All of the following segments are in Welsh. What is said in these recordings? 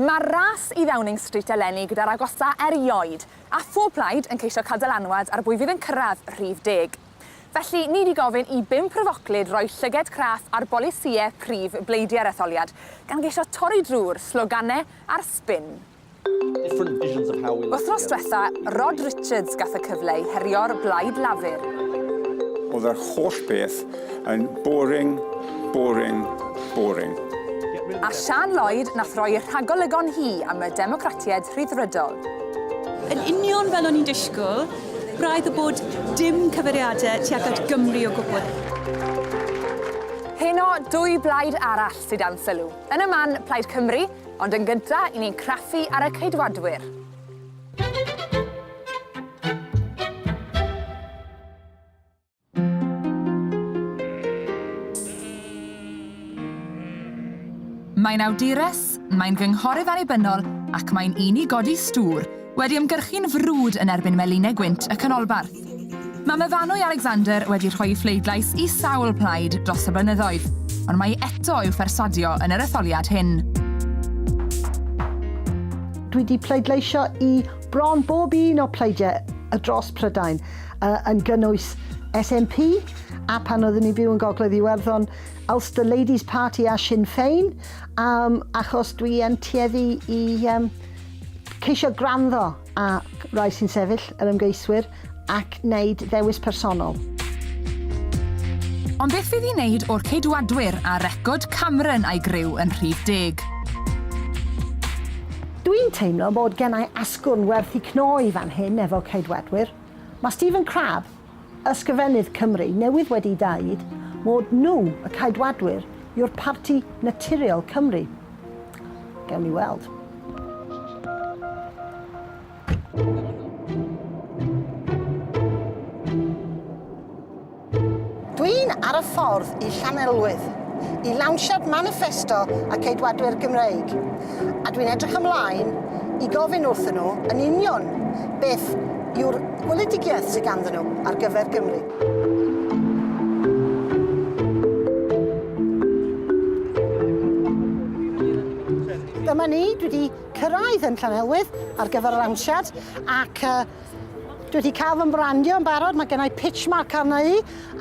Mae'r ras i Ddowning Street eleni gyda'r agosa erioed, a phob plaid yn ceisio cael dylanwad ar bwy fydd yn cyrraedd rhif deg. Felly, ni di gofyn i bum pryfoclyd roi llyged craff ar bolisïau prif bleidiau'r etholiad, gan geisio torri drwy'r sloganau a'r sbin. Wythnos dwetha, Rod Richards gath y cyfle i herio'r Blaid Lafur. Oedd yr holl beth yn boring, boring, boring. A Siân Lloyd nath roi y rhagolygon hi am y Democratiaid Rhyddfrydol. Yn union fel o'n i'n disgwyl, braidd y bod dim cyfeiriadau tuag at Gymru o gwbl. Heno, dwy blaid arall sydd dan sylw. Yn y man, Plaid Cymru, Ond yn gynta, i ni'n craffu ar y Ceidwadwyr. Mae'n awdures, mae'n gynghorydd annibynnol ac mae'n un i godi stŵr, Wedi ymgyrchu'n frwd yn erbyn meline gwynt y canolbarth. Mae Myfanwy Alexander wedi rhoi i phleidlais i sawl plaid dros y blynyddoedd, ond mae eto i'w phersuadio yn yr etholiad hyn. Dwi 'di pleidleisio i bron bob un o pleidiau y dros Prydain, yn gynnwys SNP, a pan oeddwn i'n byw yn Gogledd Iwerddon, Ulster Ladies Party a Sinn Féin, achos dwi yn tueddu i Ceisio gwrando ar rai sy'n sefyll, yr ymgeiswyr, ac wneud ddewis personol. Ond beth fydd i wneud o'r Ceidwadwyr a record Cameron a'i griw yn rhy deg? Dw i'n teimlo bod gennai asgwrn werth i cnoi fan hyn efo Ceidwadwyr. Mae Stephen Crabb, Ysgrifennydd Cymru newydd wedi daid mod nhw, y Caedwadwyr, yw'r parti naturiol Cymru. Gewn ni weld. Dwi'n ar y ffordd i Llanelwydd, i lawnsiad maniffesto y Ceidwadwyr Gymreig. a dwi'n edrych ymlaen i gofyn wrthyn nhw yn union beth yw'r weledigiaeth sydd ganddyn nhw ar gyfer Gymru. Dyma ni, dwi 'di cyrraedd yn Llanelwydd ar gyfer yr amsiad ac yy Dwi wedi cael fy mbrandio yn barod, mae gennau pitch mark arna i,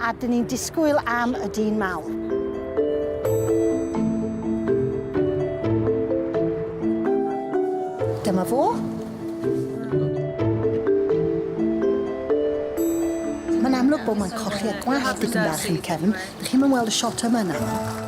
a dyn ni'n disgwyl am y dyn mawr. Dyma fo. Mae'n amlwg bod mae'n colli y gwallt dipyn bach yn y cefn. Dych chi'n mynd weld y shot yma nawr.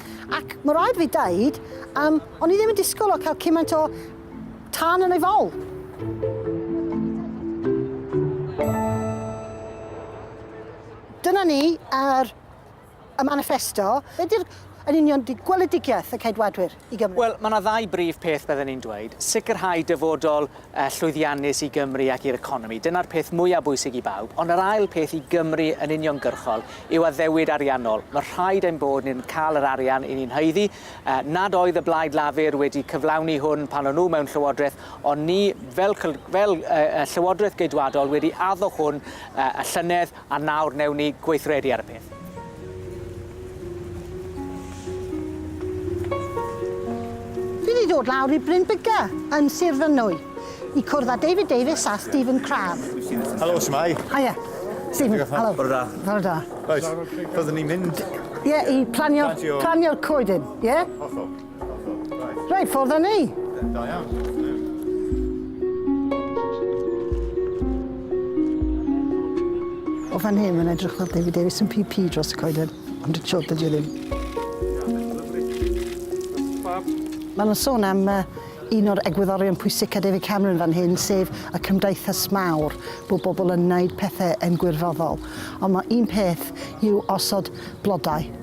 Ac ma' raid fi deud, yym, o'n i ddim yn disgwyl o cael cymaint o tân yn ei fol. Dyna ni ar y maniffesto. Be di'r... yn union, di gweledigaeth y Ceidwadwyr i Gymru? Wel, ma' 'na ddau brif peth bydden i'n dweud, sicrhau dyfodol llwyddiannus i Gymru ac i'r economi. Dyna'r peth mwyaf bwysig i bawb. Ond yr ail peth i Gymru yn uniongyrchol yw addewid ariannol. Mae rhaid ein bod ni'n cael yr arian i ni'n haeddu. Nad oedd y Blaid Lafur wedi cyflawni hwn pan o'n nhw mewn llywodraeth, ond ni, fel, fel uh, Llywodraeth Geidwadol, wedi addo hwn uh, y llynedd. A nawr newn ni gweithredu ar y peth. Fi 'di dod lawr i Bryn Biggar yn Sir Fynwy i cwrdd â David Davies a Stephen Crabbe. Helo, shwmae? Hiya. Stephen, Diolch helo. Bore da. Bore da. Reit, byddwn ni'n mynd... Ie, i planio... Planio. ...planio'r coedyn, ie? Hollol. Reit, ffordd â ni! Da iawn. O fan hyn, mae'n edrych fel David Davis yn PP dros y coeden, ond y tro dydy o ddim. Mae nhw'n sôn am uh, un o'r egwyddorion pwysica David Cameron fan hyn, sef y cymdeithas mawr, bod bobl yn wneud pethau yn gwirfoddol. Ond mae un peth yw osod blodau.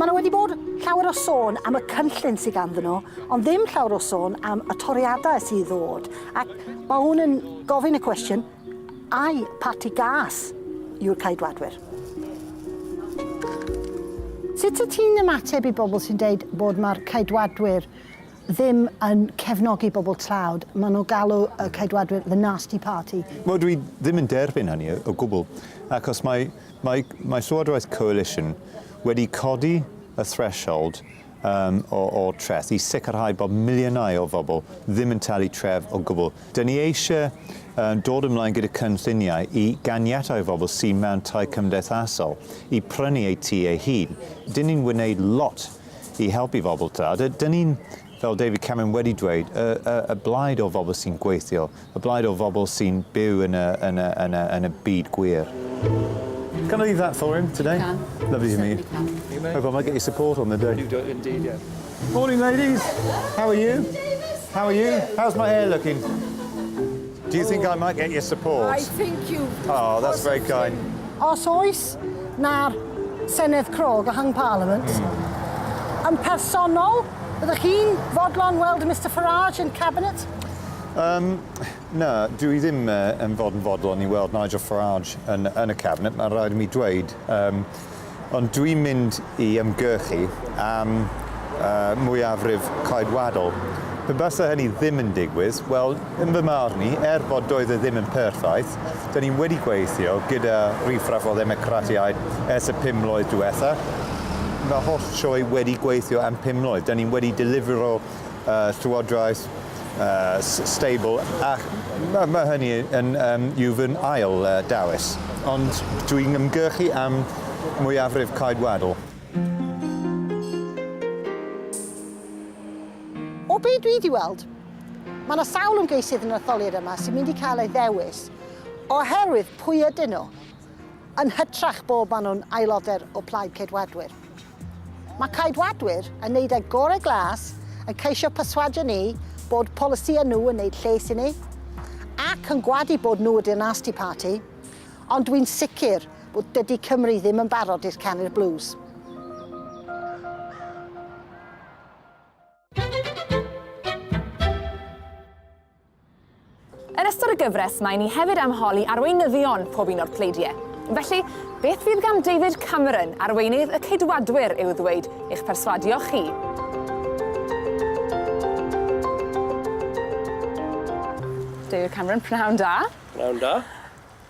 Mae 'na wedi bod llawer o sôn am y cynllun sydd ganddyn nhw, ond ddim llawer o sôn am y toriadau sydd i ddod, ac mae hwn yn gofyn y cwestiwn, ai parti gas yw'r Ceidwadwyr? Sut wyt ti'n ymateb i bobl sy'n dweud bod mae'r Ceidwadwyr ddim yn cefnogi bobl tlawd, maen nhw'n galw y Ceidwadwyr 'the nasty party'. Wel, dwi ddim yn derbyn hynny o gwbl, achos mae, mae, mae Llywodraeth Coalition wedi codi y threshold um, o, o treth i sicrhau bod miliynau o bobl ddim yn talu tref o gwbl. Dyn ni eisiau um, dod ymlaen gyda cynlluniau i ganiatau i bobl sy'n mewn tai cymdeithasol i prynu eu tu ei hun. Dyn ni'n wneud lot i helpu phobl ta. A dyn ni'n, fel David Cameron wedi dweud, y, y, y blaid o bobl sy'n gweithio, y blaid o bobl sy'n byw yn y, yn y, yn y, yn y byd gwir. Can I leave that for him today? Can. Lovely to meet you. Hope I might get your support on the day. You do indeed, yeah. Morning, ladies. How are you? How are you? How's my hair looking? Do you think I might get your support? I think you Oh, that's very kind. Os oes na'r Senedd Crog a Hung Parliament, mm. yn personol, ydych chi'n fodlon weld Mr Farage yn Cabinet? Um, na, dwi i ddim uh, yn fod yn fodlon i weld Nigel Farage yn, yn y Cabinet, mae'n rhaid i mi dweud. Um, Ond dwi'n mynd i ymgyrchu am mwyafrif Ceidwadol. Pe basa hynny ddim yn digwydd, wel, yn fy marn i, er bod doedd e ddim yn perffaith, dan ni wedi gweithio gyda riffraff o ddemocratiaid ers y pum mlwydd diwetha'. Mae holl sioe wedi gweithio am pum mlwydd. Dan ni wedi delifro y Llywodraeth, y steibl, ac mae ma hynny yn um, yw fy ail uh, dewis. Ond dwi'n ymgyrchu am mwyafrif caedwadol. O be dwi wedi weld, mae yna sawl ymgeisydd yn yr etholiad yma sy'n mynd i cael ei ddewis oherwydd pwy ydyn nhw, yn hytrach bod maen nhw'n aelodau o Plaid Ceidwadwyr. Mae Ceidwadwyr yn wneud eu gorau glas yn ceisio perswadio ni bod polisïau nhw yn wneud lles i ni, ac yn gwadu bod nhw ydy'r nasty party, ond dwi'n sicr bod dydy Cymru ddim yn barod i'r canu'r blues. Yn ystod y gyfres mae ni hefyd am holi arweinyddion pob un o'r pleidiau. Felly, beth fydd gan David Cameron, arweinydd y Ceidwadwyr, i'w ddweud i'ch perswadio chi? David Cameron, pnawn da. Pnawn da.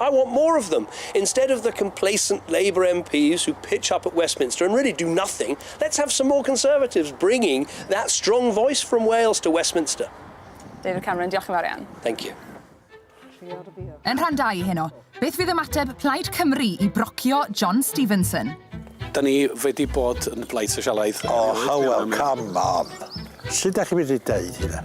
I want more of them. Instead of the complacent Labour MPs who pitch up at Westminster and really do nothing, let's have some more Conservatives bringing that strong voice from Wales to Westminster. David Cameron, diolch yn fawr iawn. Thank you. Yn rhan 2 i heno, beth fydd ymateb Plaid Cymru i brocio John Stevenson? Da ni wedi bod yn blaid sosialaidd. O, oh, hywel, come on. Sut da chi wedi deud hynna?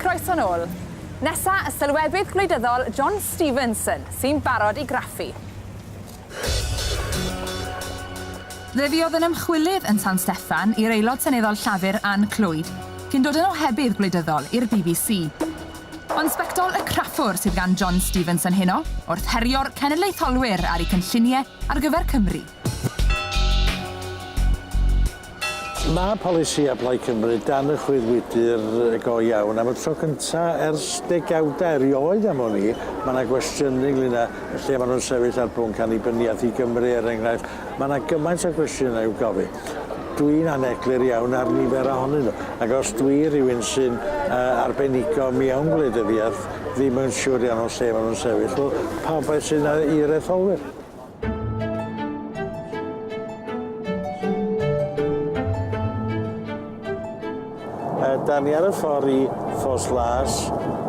Croeso'n ôl. Nesa, y sylwebydd gwleidyddol John Stevenson, sy'n barod i graffu. Fe fuodd yn ymchwilydd yn San Steffan i'r Aelod Seneddol Llafur Ann Clwyd, cyn dod yn ohebydd gwleidyddol i'r bbc. Ond sbectol y craffwr sydd gan John Stevenson heno, wrth herio'r cenedlaetholwyr ar eu cynllunie ar gyfer Cymru. Mae polisi a Plaid Cymru dan y chwyddwydr go iawn. Am y tro cynta ers degawda erioed am wn i, mae 'na gwestiynu ynglŷn â lle ma' nhw'n sefyll ar bwnc annibyniaeth i Gymru, er enghraifft. Mae 'na gymaint o gwestiynau i'w gofyn. Dwi'n aneglur iawn ar nifer ohonyn nhw, ac os dwi rhywun sy'n uh, arbenigo mewn gwleidyddiaeth ddim yn siŵr iawn o lle maen nhw'n sefyll, wel, pa bai sydd yna i'r etholwyr? Da ni ar y ffordd i Ffos Las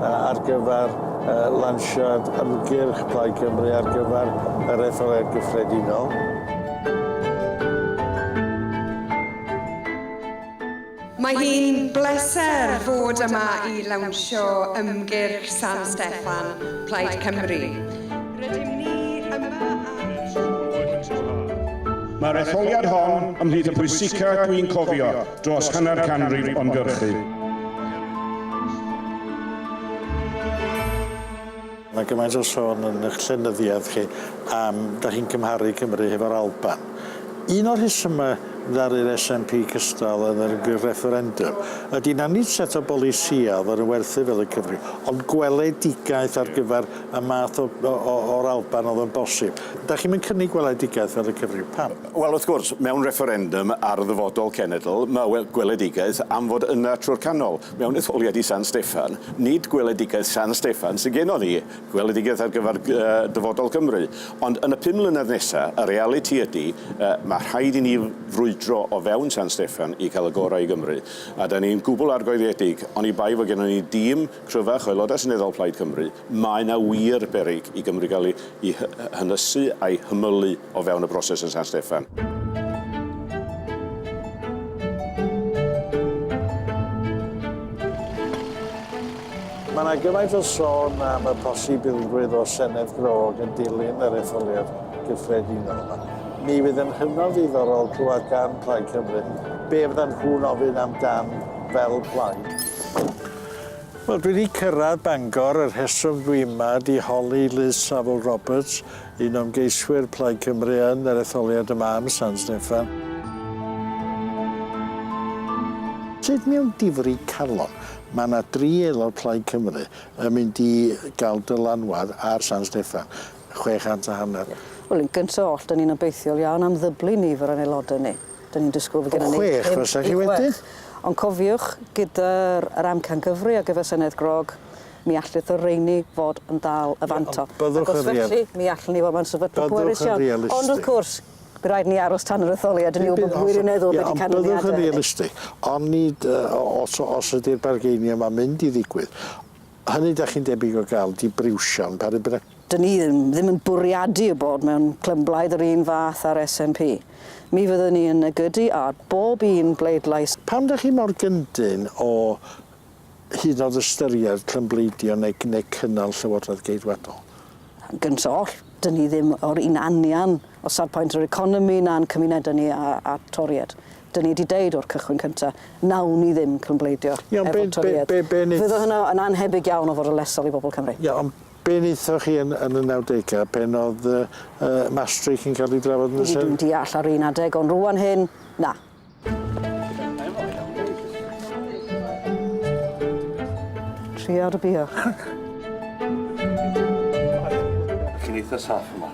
ar gyfer lansiad ymgyrch Plaid Cymru ar gyfer yr etholiad gyffredinol. Mae hi'n bleser fod yma i lawnsio ymgyrch San Steffan Plaid Cymru. Rydym ni yma ar y tro cyntaf. Mae'r etholiad hon ymhlith y pwysica dwi'n cofio dros hanner canrif o'n gyrchu. Mae gymaint o sôn yn eich llenyddiaeth chi am da chi'n cymharu Cymru hefo'r Alban. Un o'r rhesymau ddaru'r SNP cystal yn yr ymgyrch refferendwm ydy na nid set o bolisïau oedd yn werthu fel y Cymru, ond gweledigaeth ar gyfer y math o o o o'r Alban o'dd yn bosib. Dach chi'm yn cynnig weledigaeth fel y cyfryw. Pam? Wel, wrth gwrs, mewn refferendum ar ddyfodol cenedl, ma' we- gweledigaeth am fod yna trw'r canol. Mewn etholiad i San Steffan, nid gweledigaeth San Steffan sy gennon ni, gweledigaeth ar gyfer gy- yy dyfodol Cymru. Ond yn y pum mlynedd nesa, y realiti ydi, yy, ma' rhaid i ni f- frwydro o fewn San Steffan i ca'l y gorau i Gymru. A 'dan ni'n gwbwl argoeliedig, oni bai fo' gennon ni dîm Cryfach, o Aelodau Seneddol Plaid Cymru, mae 'na wir beryg i Gymru gael ei hynysu a'i hymylu o fewn y broses yn San Steffan. Mae 'na gymaint o sôn am y posibilrwydd o Senedd Grog yn dilyn yr etholiad gyffredinol yma. Mi fydd yn hynod ddiddorol clywed gan Plaid Cymru be fyddan nhw'n ofyn amdan fel plaid. Wel dwi 'di cyrradd Bangor y rheswm dwi yma ydi holi Liz Saville Roberts, un o ymgeiswyr Plaid Cymru yn yr etholiad yma am San Steffan. Sut mewn difri calon ma' 'na dri aelod Plaid Cymru yn mynd i ga'l dylanwad ar San Steffan? chwe chant a hanner. Wel, yn gynta oll, 'dan ni'n obeithiol iawn am ddyblu nifer o'n aelodau ni. 'Dan ni'n disgwyl fod gennyn ni... O chwech fysa chi wedyn? Ond cofiwch, gyda'r yr amcangyfrwy ar gyfer Senedd Grog, mi allith y rheiny fod yn dal y fantol. Ond byddwch yn real- Ac os felly, mi allwn ni fod mewn sefyllfa pwerus iawn. Byddwch yn realistig. Ond wrth gwrs, by' raid ni aros tan yr etholiad i ni wbod wirioneddol be' 'di canlyniade hynny. Ie, ond byddwch yn realistig. Onid yy o- os o- os ydi'r bargeinie 'ma'n mynd i ddigwydd, Hynny dach chi'n debyg o gael dibriwsion pa ribne. Dyn ni ddim yn bwriadu y bod mewn clymblaid yr un fath a'r SNP. Mi fyddwn ni yn negydu ar bob un bleidlais. Pam dach chi mor gyndyn o hyd yn oed ystyried clymbleidio neu neu cynnal Llywodraeth Geidwadol? Yn gynt oll, dyn ni ddim o'r un anian o safpwynt yr economi na'n cymunedau ni â â Toried. 'dyn ni 'di deud o'r cychwyn cynta, nawn ni ddim crymbleidio efo Toryedd. Ie, ond be', be', be' neith-... Fydde hwnna yn annhebyg iawn o fod yn lesol i bobl Cymru. Ie, ond be' neithoch chi yn yn y nawdegau pen o'dd yy yy Maastricht yn ca'l 'i drafod yn y Senedd? Ydi, dwi'n deall ar un adeg, ond rŵan hyn, na. Tria dy bia. Chi'n eitha saff yma.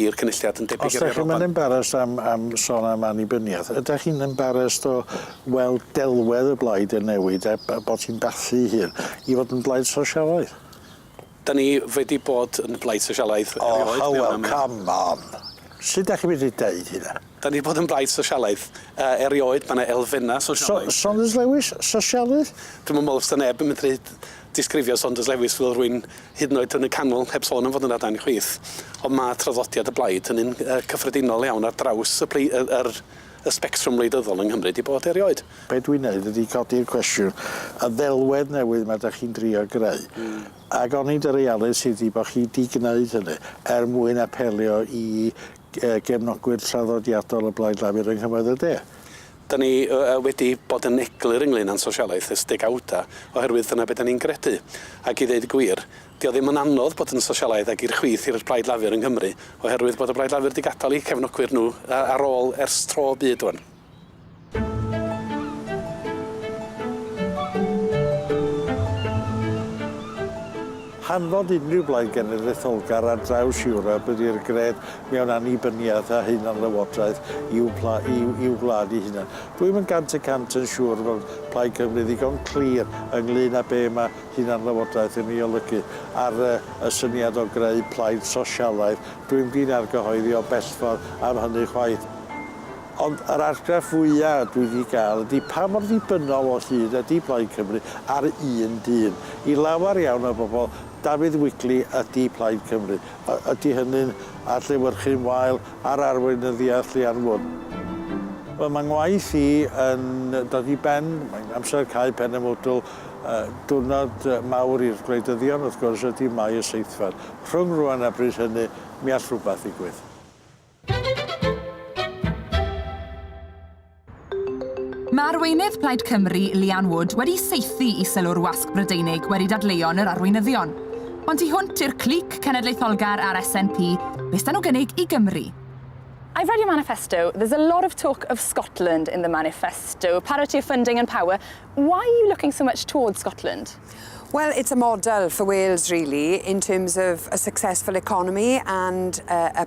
i'r Cynulliad yn debyg i'r Iar Alban. Os dach chi'm yn embarrassed am am son am annibyniaeth, ydach chi'n embarrassed o weld delwedd y blaid yn newid a a bod hi'n bathu 'i hun i fod yn blaid sosialaidd? Da ni wedi bod yn blaid sosialaidd erioed mewn America. O come on! Sud dach chi medru deud hynna? Da ni 'di bod yn blaid sosialaidd yy erioed, ma' 'na elfenna' sosialaidd. So- Saunders Lewis, sosialydd? Dwi'm yn me'wl fysa neb yn medru disgrifio Saunders Lewis fel rwyn hyd yn oed yn y canol heb sôn am fod yna dan chwith ond ma' traddodiad y blaid yn un yy cyffredinol iawn ar draws y plei- yy yr y sbectrwm wleidyddol yng Nghymru 'di bod erioed. Be' dwi'n neud ydi codi'r cwestiwn, y ddelwedd newydd 'ma 'dach chi'n drio greu. Hmm. Ag onid y realiti ydi bo' chi 'di gneud hynny er mwyn apelio i gefnogwyr traddodiadol o Blaid Lafur yng nghymoedd y de. Dan ni wedi bod yn eglur ynglŷn â'n sosialaeth ers degawdau oherwydd dyna be dan ni'n gredu. Ac i ddeud y gwir, 'di o ddim yn anodd bod yn sosialaidd ac i'r chwith i'r Plaid Lafur yng Nghymru oherwydd bod y Blaid Lafur 'di gadael eu cefnogwyr nhw ar ôl ers tro byd rŵan. Hanfod unrhyw Blaid Genedlaetholgar ar draws Ewrop ydy'r gred mewn annibyniaeth a hunanlywodraeth i'w pla- i'w- i'w gwlad ei hunan. Rwyf yn gant y cant yn siŵr fod Plaid Cymru ddigon clir ynglŷn â be mae hunanlywodraeth yn ei olygu, a'r y, y syniad o greu plaid sosialaidd, dwi'm di'n argyhoeddi o bellffordd am hynny chwaith. Ond yr argraff fwya' dwi 'di ga'l ydi pa mor ddibynnol o hyd ydi Plaid Cymru ar un dyn. I lawer iawn o bobol, Dafydd Wigley ydi Plaid Cymru. Y- ydi hynny'n adlewyrchu'n wael ar arweinyddiaeth Leanne Wood? Wel, mae 'ngwaith i yn dod i ben. Mae'n amser cau pen y mwdwl. Y diwrnod mawr i'r gwleidyddion, wrth gwrs, ydi Mai y seithfed. Rhwng rŵan a bryd hynny, mi all rhywbeth ddigwydd. Mae arweinydd Plaid Cymru, Leanne Wood, wedi saethu i sylw'r wasg Brydeinig wedi dadleuon yr arweinyddion. Ond tu hwnt i'r clic cenedlaetholgar a'r SNP, be s'da nhw gynnig i Gymru? I've read your manifesto, there's a lot of talk of Scotland in the manifesto, parity of funding and power, why are you looking so much towards Scotland? Well, it's a model for Wales really, in terms of a successful economy and uh, a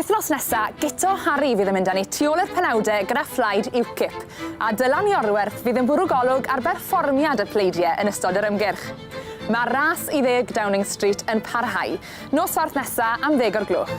Wythnos nesa, Guto Harri fydd yn mynd â ni tu ôl i'r penawdau gyda phlaid UKIP, a Dylan Iorwerth fydd yn bwrw golwg ar berfformiad y pleidiau yn ystod yr ymgyrch. Mae'r ras i ddeg Downing Street yn parhau. Nos Fawrth nesa am ddeg o'r gloch.